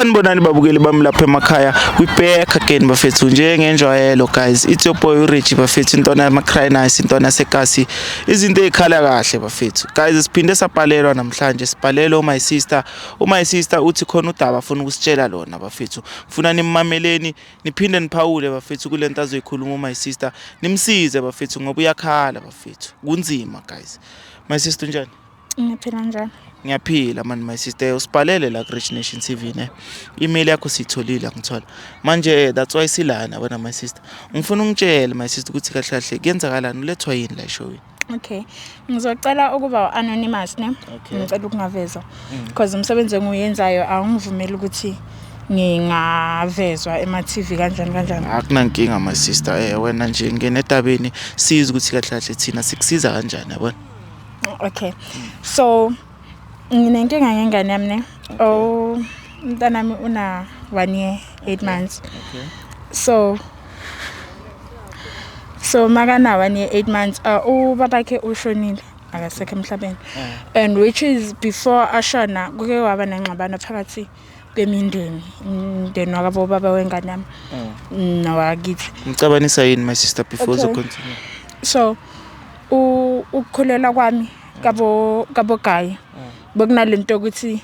Sanibonani babukeli bami lapha emakhaya we back again bafethu njengenjwayelo guys it's your boy uRich bafethu intwana yamaCranice intwana yasekasi izinto ezikhala kahle bafethu guys siphinde sapalelwa namhlanje sipalelwa my sister my sister uthi khona udaba afuna ukusitshela lona bafethu ngifuna nimmameleni niphinde niphawule bafethu kulento azoyikhuluma my sister nimsize bafethu ngoba uyakhala bafethu kunzima guys my sister unjani Ngiphila njani? Ngiyaphila mani my sister usibhalele la ku-Rich Nation TV ne. Email yakho siyitholile angithola. Manje that's why silana wena my sister. Ngifuna ungitshele my sister ukuthi kahle kahle kuyenzakalani ulethwa yini la eshowini. Okay. Ngizocela ukuba anonymous ne. Okay. Ngicela ukungavezwa. Mm. Because umsebenzi engiwenzayo awungivumeli ukuthi ngingavezwa ema-TV kanjani kanjani akunankinga my sister eh wena nje ngene etabeni siza ukuthi kahle kahle thina sikusiza kanjani yabona okay so nginenkinga ngengane yami ne oh umntanami una 1 year 8 months okay so so makana 1 year 8 months uh, ubabakhe ushonile akasekho emhlabeni eh. and which is before ashona kuke waba nengxabano phakathi bemindeni umndeni wakabo baba wengane yami mm. nowakithi ngicabanisa yini my sister before okay. uzocontinue so ukukhulelwa kwami kabo kabo gayi mm. bekunalento ukuthi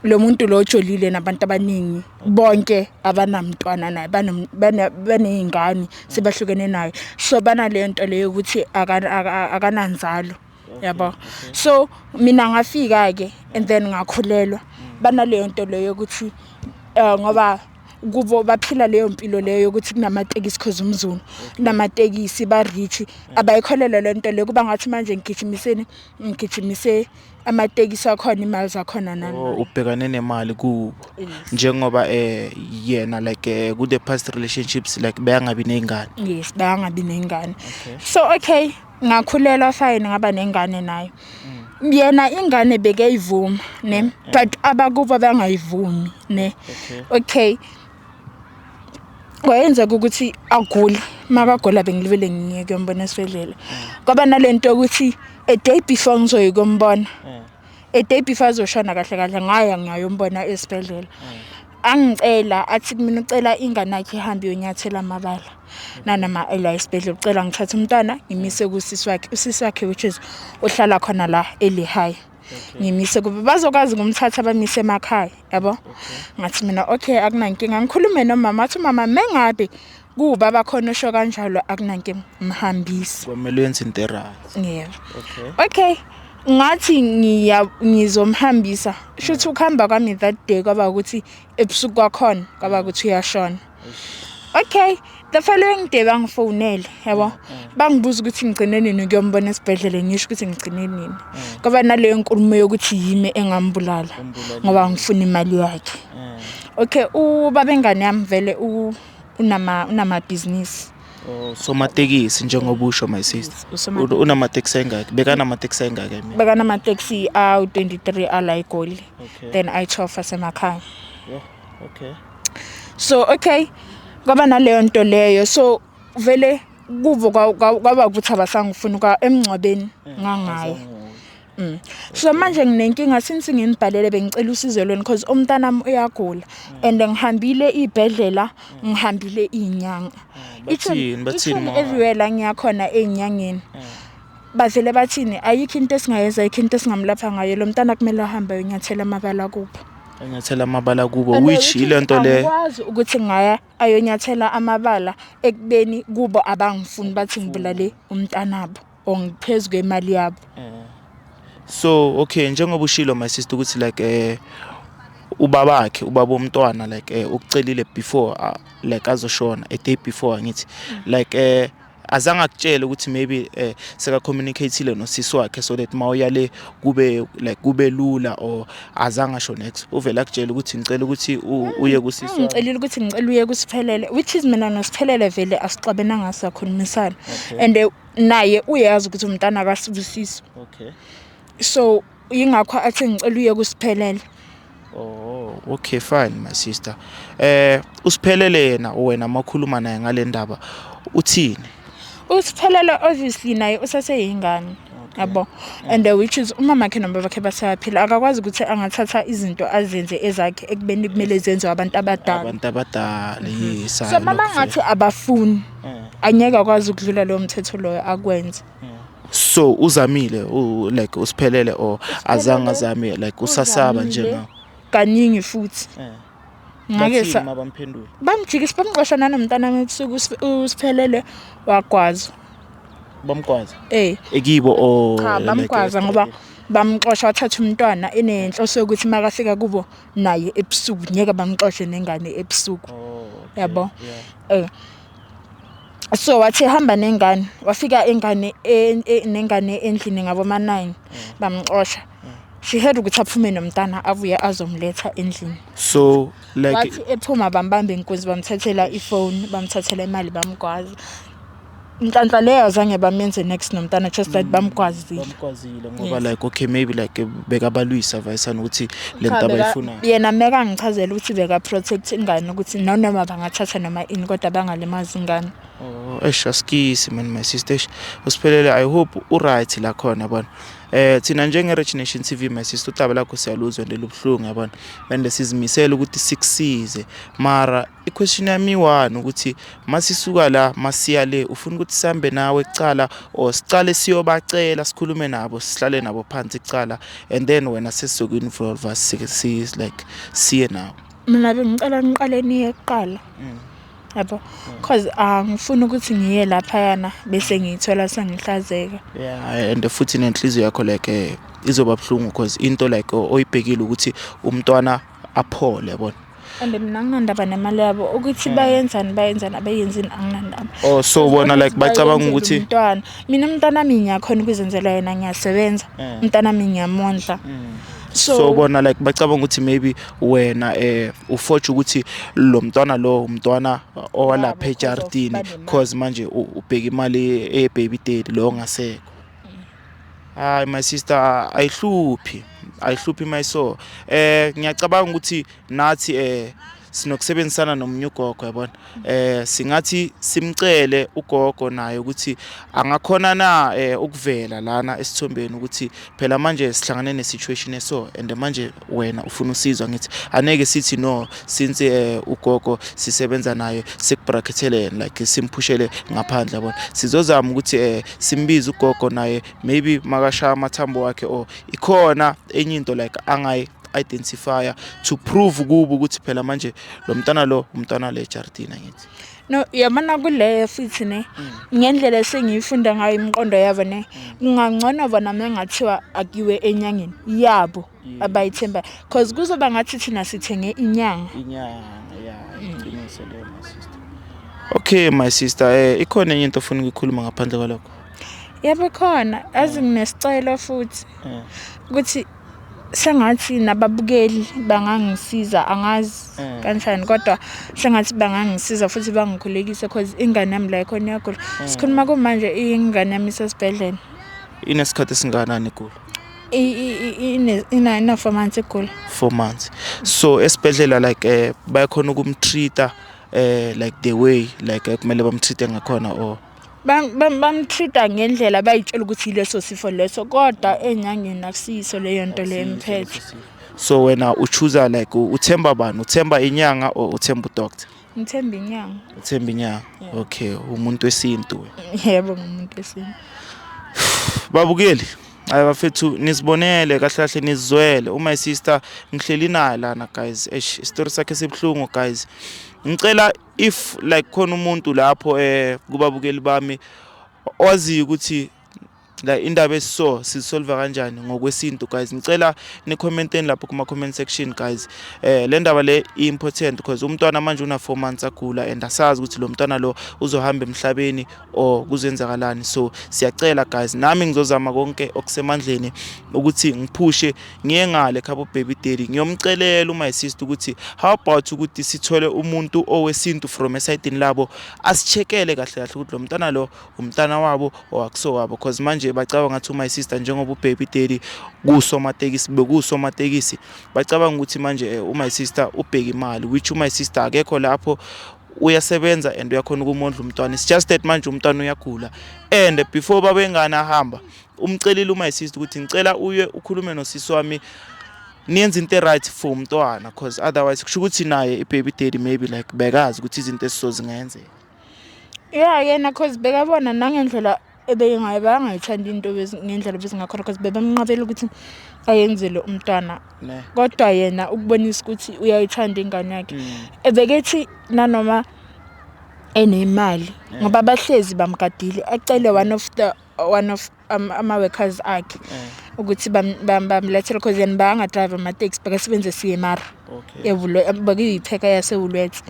lo muntu lo ojolile nabantu abaningi bonke abanamntwana naye baney'ngane sebahlukene naye so banale nto leyo ukuthi akananzalo yabo so mina ngafika ke and then ngakhulelwa banaleyo nto leyo ukuthi eh, ngoba kubo baphila leyo mpilo leyo yokuthi kunamatekisi cause umzulu kunamatekisi ba-rich abayikholelwa le nto leyo kuba ngathi manje ngigijimiseni ngigijimise amatekisi akhona imali zakhona nani Oh, ubhekane nemali kubo njengoba eh yena like eh, ku the past relationships like beyangabi nezingane yes bayangabi ney'ngane so okay ngakhulelwa fine ngaba nengane nayo yena ingane bekeyivuma ne but abakubo bangayivumi ne okay kwayenzeka ukuthi agule makagula bengilibele ngiye kuyombona esibhedlela kwaba nalento ukuthi a day before ngizoyi kumbona mm. a day before azoshona kahle kahle ngaya ngiyayombona esibhedlela mm. angicela athi kumina ucela ingane yakhe ihambe yonyathela amabala nanoma ela esibhedlela ucela ngithathe umntwana ngimise kusisi wakhe usisi wakhe which is uhlala khona la elihigh ngimise kube bazokwazi ngumthatha bamise emakhaya yabo ngathi mina okay akunankinga ngikhulume nomama athi umama mengabe kuba bakhona usho kanjalo akunankinga mhambisi kwamele yenze into right yebo okay ngathi ngiya ngizomhambisa shuthi ukuhamba kwami that day kwaba ukuthi ebusuku kwakhona kwaba ukuthi uyashona okay the following day bangifonele yabo mm, mm. bangibuza ukuthi ngigcine nini kuyombona esibhedlela ngisho ukuthi ngigcine nini mm. kwaba naleyo nkulumo yokuthi yimi engambulala ngoba ngifuna imali yakhe okay ubabengane yami vele unama unamabhizinisi Usomatekisi njengoba usho my sister. Usomatekisi. U- Unamatekisi engaki? Bekanamatekisi engaki I mean? Bekanamateksi awu-23 ala eGoli. Okay. Then ayi-12 asemakhaya. Yho, Okay. so okay kwaba naleyo nto leyo so vele kuvo kwa- kwa- kwaba ukuthi abasangifuni kwa emngcwabeni ngangayo Mm. So manje nginenkinga since nginibhalele bengicela usizo lweni because umntanami uyagula and ngihambile ibhedlela ngihambile inyanga. Mm. Bathini bathini everywhere la ngiyakhona ezinyangeni. Mm. Bavele bathini ayikho into esingayenza ayikho into esingamlapha ngayo lo mntana kumele ahambe ayonyathela amabala kuphi. Enyathela amabala kubo which ilento le. Ngikwazi ukuthi ngaya ayonyathela amabala ekubeni kubo abangifuni bathi ngibulale umntanabo. or ngiphezu kwemali yabo so okay njengoba ushilo my sister ukuthi like eh ubabakhe ubaba omntwana like eh ukucelile before uh, like azoshona a day before ngithi like eh azange akutshele ukuthi maybe eh seka communicateile nosisi wakhe so that mawuyale kube like kube lula or azange asho next uvela kutshela ukuthi ngicela ukuthi uye kusisi wakhe ngicelile ukuthi ngicela uye kusiphelele which is mina nosiphelele vele asixabenanga sakhulumisana and eh, naye uyazi ukuthi umntana akasibusiso okay so yingakho athi ngicela uye kusiphelele oh okay fine my sister eh usiphelele yena wena makhuluma naye ngale ndaba uthini usiphelele obviously naye usaseyingane yabo and uh, which is umama khe noma bakhe basaphila akakwazi ukuthi angathatha izinto azenze ezakhe ekubeni kumele zenziwe abantu abadala abantu abadala yes so mama ngathi abafuni angeke akwazi ukudlula lowo mthetho loyo akwenze so uzamile u, like usiphelele or azange azame like usasaba nje Uzamile na kaningi futhi Eh. ngake Bathini sa uma bamphendula bamjikisa bamqosha nanomntana wami ebusuku usip- usiphelele wagwaza bamgwaza eh ekibo or cha like bamgwaza ngoba esitobhini? bamxosha wathatha umntwana inenhloso yokuthi makafika kubo naye ebusuku ngeke bangixoshe nengane ebusuku yabo eh so wathi hamba nengane wafika ingane e, e, nengane endlini ngabo ma 9 mm. bamxosha mm. she had ukuthi aphume nomntana avuye azomletha endlini so like wathi ephuma bambamba inkunzi bamthathela ifone bamthathela imali bamgwaza Nhlanhla leyo azange bamenze next nomntana just that mm. bamgwazile. Bamgwazile ngoba like okay maybe like bekabalwisa vayisana ukuthi le nto abayifunayo. Yena meka angichazela ukuthi beka protect ingane ukuthi noma bangathatha noma ini kodwa bangalimazi ingane. Oh, eish asikisi man my sister. Usiphelele I hope u right la khona yabona. Eh thina njenge Rich Nation TV my sister utaba lakho siyaluzwa ndelubuhlungu yabona. Bende sizimisela ukuthi sikusize mara I-question yami iwani ukuthi masisuka la masiya le ufuna ukuthi sihambe nawe kucala or sicale siyobacela sikhulume nabo sihlale nabo phansi kucala and then wena sesizoku-involva like siye nawo mina bengicela niqale niye kuqala mm. yabo cause angifuni ukuthi ngiye laphayana bese ngiyithola sengihlazeka yeah and futhi nenhliziyo yakho like eh, izoba buhlungu cause into like oyibhekile ukuthi umntwana aphole yabona and mina anginandaba nemali yabo ukuthi hmm. bayenzani bayenzani abayenzini anginandaba oh so bona like bacabanga ukuthi umntwana mina umntwana wami ngiyakhona ukuzenzela yena ngiyasebenza hmm. umntwana wami ngiyamondla hmm. so, so bona like bacabanga ukuthi maybe wena eh ufotsha ukuthi lo mntwana lo umntwana owalapha ejartini cause manje ubheka imali ebaby daddy lo ngasekho Hayi my sister ayihluphi ayihluphi my so eh ngiyacabanga ukuthi nathi eh sinokusebenzisana nomunye ugogo yabona eh singathi simcele ugogo naye ukuthi angakhona na eh, ukuvela lana esithombeni ukuthi phela manje sihlangane ne situation eso and manje wena ufuna usizo ngithi aneke sithi no since eh, ugogo sisebenza naye sikubrackethele yena like simphushele ngaphandle yabona sizozama ukuthi eh, simbize ugogo naye maybe makashaya amathambo wakhe or ikhona enye into like angayi identifier to prove kubo ukuthi phela manje lo mntana lo umntana le Jardina ngithi No, yabona kuleyo futhi ne ngendlela esengiyifunda ngayo imiqondo yabo ne kungangcono bona mengathiwa akiwe enyangeni yabo abayithembayo cause kuzoba ngathi thina sithenge inyanga inyanga ya iqiniso leyo my sister okay my sister eh ikhona enye into ofuna ukuyikhuluma ngaphandle kwalokho yabo khona azi nginesicelo futhi Eh. ukuthi sengathi nababukeli bangangisiza angazi mm. kanjani kodwa sengathi bangangisiza futhi bangikhulekise cause ingane yami la ikhona iyagula mm. sikhuluma kumanje ingane yami isesibhedlela inesikhathi esinganani igula ina four months igula four months so esibhedlela like eh, bayakhona ukumtreata eh like the way like eh, kumele bamtreate ngakhona or bamtreat-a ngendlela bayitshela ukuthi yileso sifo leso kodwa enyangeni akusiyiso leyo nto leyo emphethe so wena uchuza like uthemba bani uthemba inyanga or uthemba udoctor ngithemba inyanga uthemba inyanga okay umuntu wesintu yebo ngumuntu wesintu babukeli hayi bafethu nisibonele kahle kahle nizizwele uma isister ngihleli naye lana guys eish isitori sakhe sibuhlungu guys ngicela if like khona umuntu lapho eh kubabukeli bami owaziyo ukuthi la indaba esiso sisolve kanjani ngokwesintu guys ngicela ni commenteni lapho kuma comment section guys eh le ndaba le important because umntwana manje una 4 months agula and asazi ukuthi lo mntwana lo uzohamba emhlabeni or kuzenzakalani so siyacela guys nami ngizozama konke okusemandleni ukuthi ngiphushe ngiye ngale khabo baby daddy ngiyomcelela uma sister ukuthi how about ukuthi sithole umuntu owesintu from esayidini labo asichekele kahle kahle ukuthi lo mntana lo umntana wabo owakuso wabo cause manje bacabanga ngathi uma sister njengoba ubaby daddy kusomatekisi bekusomatekisi bacabanga ukuthi manje eh, uma sister ubheka imali which uma sister akekho lapho uyasebenza and uyakhona ukumondla umntwana it's just that manje umntwana uyagula and before babengane ahamba umcelile uma sister ukuthi ngicela uye ukhulume nosisi wami niyenza into e-right for umntwana because otherwise kusho ukuthi naye i-baby daddy maybe like bekazi ukuthi izinto esizozingenzeka ya yena cause bekabona nangendlela ebeyingayo bangayithandi into ngendlela bezingakhona cause bebemnqabela ukuthi ayenzele umntwana kodwa yena ukubonisa ukuthi uyayithanda ingane yakhe mm. ebekethi nanoma enemali ngoba bahlezi bamgadile acele one of the one of um, ama-workers akhe eh. ukuthi bamlethele cause yena bayangadrive ama-taxi bakasebenze cmr bekuyipheka yasewulwethe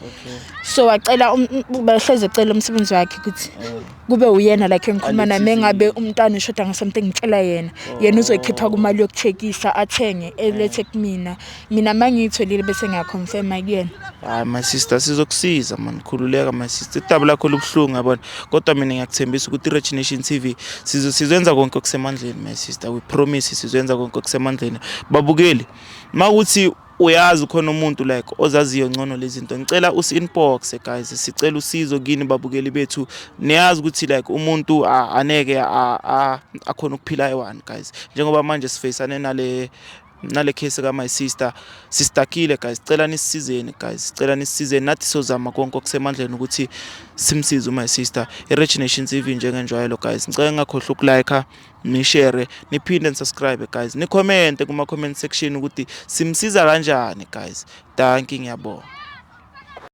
so wacela um, um, bahleze ecela umsebenzi wakhe ukuthi oh. kube uyena like engikhuluma nami engabe umntwana ushoda ngasomnto engitshela yena yena oh. uzoyikhipha kumali yokucheckisa athenge elethe kumina mina mangiyitholile bese ngiyaconfirma kuyena hayi my sister sizokusiza mani khululeka my sister idaba lakho lubuhlungu yabona kodwa mina ngiyakuthembisa ukuthi i-rich nation t v sizoyenza konke okusemandleni my sister we promise sizoyenza konke okusemandleni babukeli ma ukuthi uyazi khona umuntu like ozaziyo ngcono lezi zinto ngicela usi-inboxe guys sicela usizo kini babukeli bethu niyazi ukuthi like umuntu aneke akhona ukuphila eyi-one guys njengoba manje sifeyisane nale nale case ka my sister sistakile guys sicela nisizeni guys sicela nisizeni nathi sozama konke okusemandleni ukuthi simsize u my sister i Rich Nation TV njengenjwayelo guys ngicela ngakhohlwa ukulike nishare niphinde nisubscribe guys nicommente kuma comment section ukuthi simsiza kanjani guys danki ngiyabonga